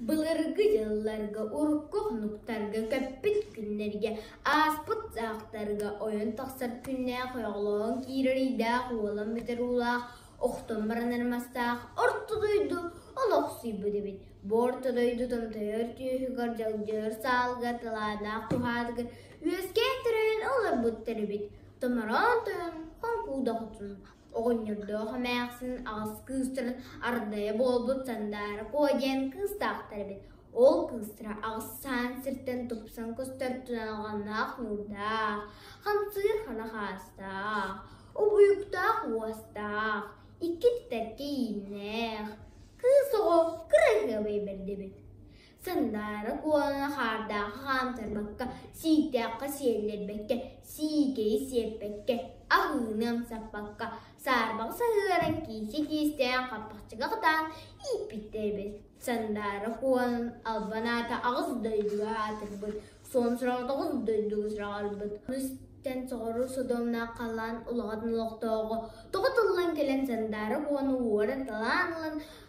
Былыргы дьылларга урукку хонуктарга көппүт күннэргэ ааспыт саахтарга ойон тахсар күннээх ойоҕолоон киирэр ыйдаах уолан бүтэр уулаах охтон баран армастаах орто дойду олохсуйбут эбит. Бу орто дойду томтойор түөһүгэр дьалдьыар саалга талааннаах куһаатыгар үөскээн төрөйөн олорбуттар эбит. Томороон тойон хоҥкуудах отун Оҕонньордоох эмээхсин аҕыс кыыстарын ардайа буолбут Сандаара Куо диэн кыыстаахтар эбит. Ол кыыстара аҕысаан сиртэн тупсан көстөр туйаҕаннаах ньуурдаах, хамсыыр ханах аастаах, обуйуктаах уостаах, икки титтэр кииннээх, кыыс оҕо кыра ыһыабай бэрдэ эбит. Сандаара куолана хаардаахы хаамтарбакка, сииктээххэ сиэллэрбэккэ, сиикэйи сиэппэккэ, аһыыны амсаппакка, саарбаҕы саһыаран киисэ киистээн хаппахчыга кытаан ииппиттэр эбит. Сандаара куолан албан аата аҕыс дойдуга аатырбыт, сонсураҥа тоҕус дойдуга сураҕарбыт. Ону истэн соҕуруу Содомнаах халаан улаҕатын олохтооҕо, тоҕо тыллан кэлэн Сандаара куоланы уоран талаан ылан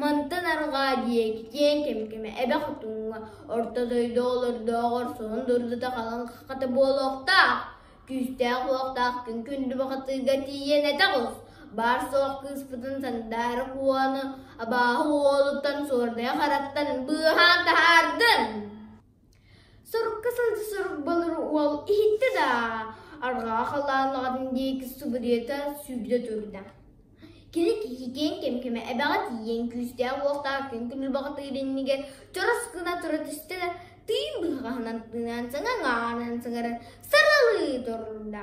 Мантан арҕаа диэки киэҥ кэмкимэ эбэ хотуҥҥа орто дойду олордооҕор сонун дурдата халыҥ хата буолуохтаах, күүстээх-уохтаах күн күндү бахатыыга тиийэн этэ ҕус, баар-суох кыыспытын сандаара куону абааһы уолуттан суордайа хараттан быыһаан таһаардын Сорукка сылдьа сорук болор уол иһиттэ да, арҕаа халаан аҕатын диэки субуруйата сүүрдэ турда. Кини киһикээн кэм-кэмэ эбэҕэ тиийэн күүстээх-уохтаах күн күнү баҕатыыр иннигэр чорос гына тура түстэ да, тыын быһаҕаһынан тыынан саҥа аҥаарынан саҥаран саралыы турда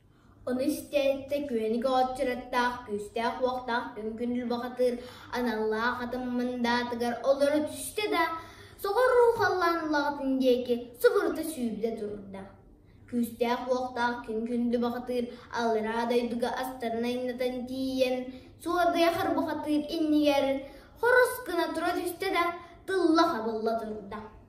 Ону истээттэ күөник оҕоччураттаах күүстээх-уохтаах үҥкүн бухатыыр аналлаах атын мындаатыгар олоро түстэ да, соҕуруу халлаан улаҕатын диэки субурута сүүрдэ турда. Күүстээх-уохтаах күн-күндү бухатыыр аллараа дойдуга астарын айнытан тиийэн, суордайахар бухатыыр иннигэр хорос гына тура түстэ да, тылла хабылла турда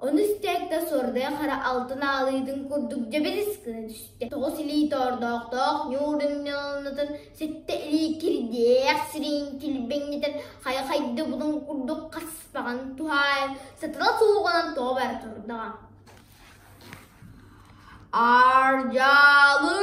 Ону истээккэ сордой хара алтын аалыытын курдук дьэбэлис гына түстэ. Тоҕус илии тоордоохтоох ньуурунньалынатын сэттэ илии кирдээх сириин килбэҥнэтэн хайа-хайда булун курдук хаспаҕын туһаайан сатыла сууҕанан тоҕо бара турдаҕа. Ардьалыы!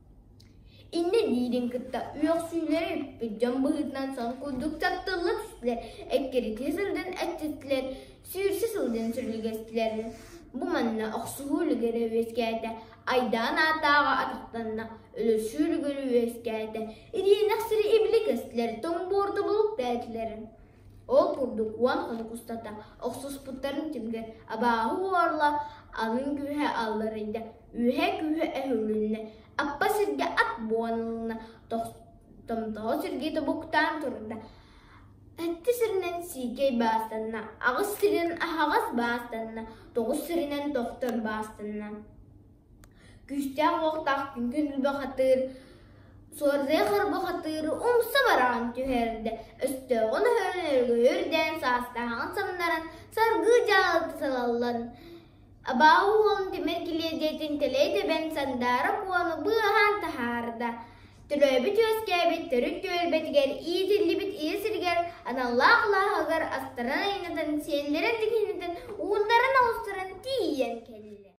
Иннэ диирин кытта үөхсүүлэрэ үппүт дьон быһыытынан сон курдук чаптыллык түстүлэр, эккирэтии сылдьан эччиттилэр, сүүрсэ сылдьан сүрүлгэстилэр. Бу манна охсуһуу үлүгэрэ үөскээтэ, айдаан аатааҕа атахтанна, өлөсүү үлүгэрэ үөскээтэ, ириэнэхсири ибилэ көстүлэр, томбуордубулук тээтилэр Ол курдук уон хонук устата охсуспуттарын түмүгэ абааһы уорла атын күүһэ алларыйда, үөһэ күүһэ өһүрүлүннэ, аппа сиргэ ат буоналына томтоһо сиргэ тобуктаан турда. Эттэ сиринэн сиикэй баастанна, аҕыс сиринэн аһаҕас баастанна, тоҕус сиринэн тохтор баастанна Күүстээх уохтаах күҥкүн үлбэ хатыыр, суордайа харба хатыыр умса бараҕын түһэрдэ, өстөөҕүн өһөрөн өргөйө үрдээн саастааҕын самнаран саргыы дьаалты салаллан, абааһы уолун тимир килиэдьийэтин тэлэй тэбэн Сандаара Куону быаһаан таһаарда, төрөөбүт үөскээбит төрүт түөлбэтигэр иитиллибит ийэ сиригэр аналлаах алааһыгар астаран айаннатан сиэллэрин дикинэтэн уундарын оҕустаран тиийэн кэллэ